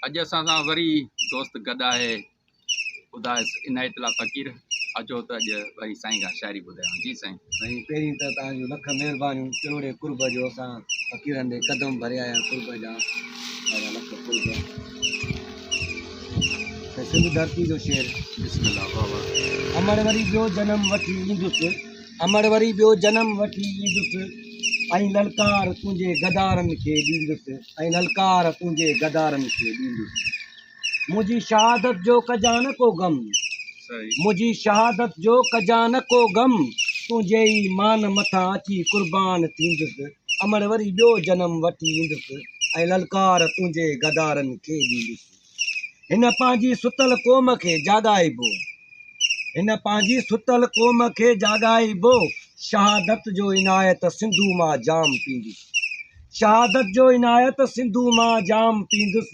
اڄ اسان سان وري دوست گڏ آهي خدا عنايت الله فقير اچو ته اڄ وري سائين کان شاعري ٻڌايو جي سائين سائين پهرين ته توهان جون لک مهربانيون ڪروڙي قرب جو اسان فقيرن ڏي قدم ڀريا آهيا قرب جا توهان لک قرب سنڌ ڌرتي جو شعر بسم الله بابا امڙ وري ٻيو جنم وٺي ايندس امڙ وري ٻيو جنم وٺي ايندس ۽ للڪار تنهنجي غدارن کي ڏيندس ۽ للڪار تنهنجي غدارن کي ڏيندس منهنجي شهادت جو ڪجان ڪو غم منهنجي شهادت جو ڪجان ڪو غم تنهنجي ئي مان مٿان اچي قربان ٿيندس امڙ وري ٻيو جنم وٺي ايندس ۽ للڪار تنهنجي غدارن کي ڏيندس. هن پنهنجي ستل قوم کي جاڳائبو، هن پنهنجي ستل قوم کي جاڳائبو، شهادت جو عنايت سنڌو مان جام پيندس، شهادت جو عنايت سنڌو مان جام پيندس،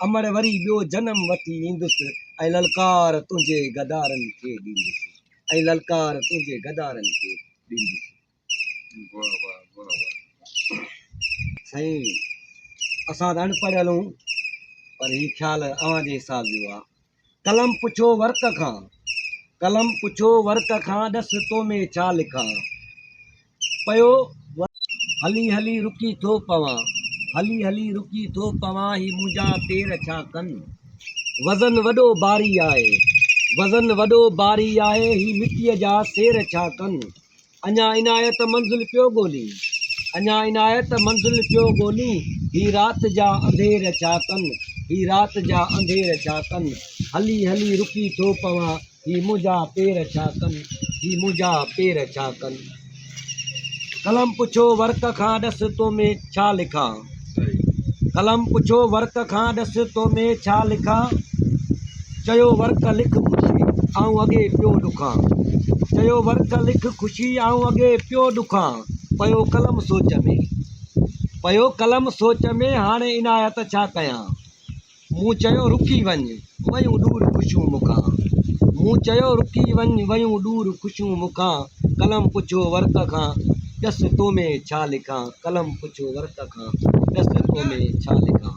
امڙ وري ٻيو جنم وٺي ايندس، ۽ للڪار تنهنجي غدارن کي ڏيندس، ۽ للڪار تنهنجي غدارن کي ڏيندس. سائين اسان ته اڻپڙهيل آهيون پر هي خيال اوهان جي حساب جو آهي قلم پڇو ورق کان قلم پڇو ورق کان ڏس تو ۾ ڇا لکان پيو هلي هلي رڪي ٿو پوان هلي هلي رڪي ٿو پوان هي منهنجا پير ڇا ڪن وزن وڏو باري آهي وزن وڏو باري آهي هي مٽيء جا سير ڇا ڪن اڃا عنايت منزل پيو ڳولين، اڃا عنايت منزل پيو ڳولين، هي رات جا انڌير ڇا ڪن، هي رات جا انڌير ڇا ڪن، هلي هلي رڪي ٿو پوان، هي منهنجا پير ڇا ڪن، هي منهنجا پير ڇا ڪن. قلم پڇيو ورق کان ڏس تو ۾ ڇا لکان. قلم پڇيو ورق کان ڏس تو ۾ ڇا لکان چيو ورق لک خوشي آئون اڳي پيو ڏکان چيو ورق لک خوشي آئون اڳي پيو ڏکان پيو قلم سوچ ۾ پيو قلم سوچ ۾ هاڻي عنايت ڇا ڪيان مون چيو رڪي وڃ، ويون ڏور خوشيون مون کان. مون چيو رڪي وڃ، ويون ڏور خوشيون مون کان. قلم پڇيو ورق کان، ڏس تو ۾ ڇا لکان. قلم پڇيو ورق کان، ڏس تو ۾ ڇا لکان.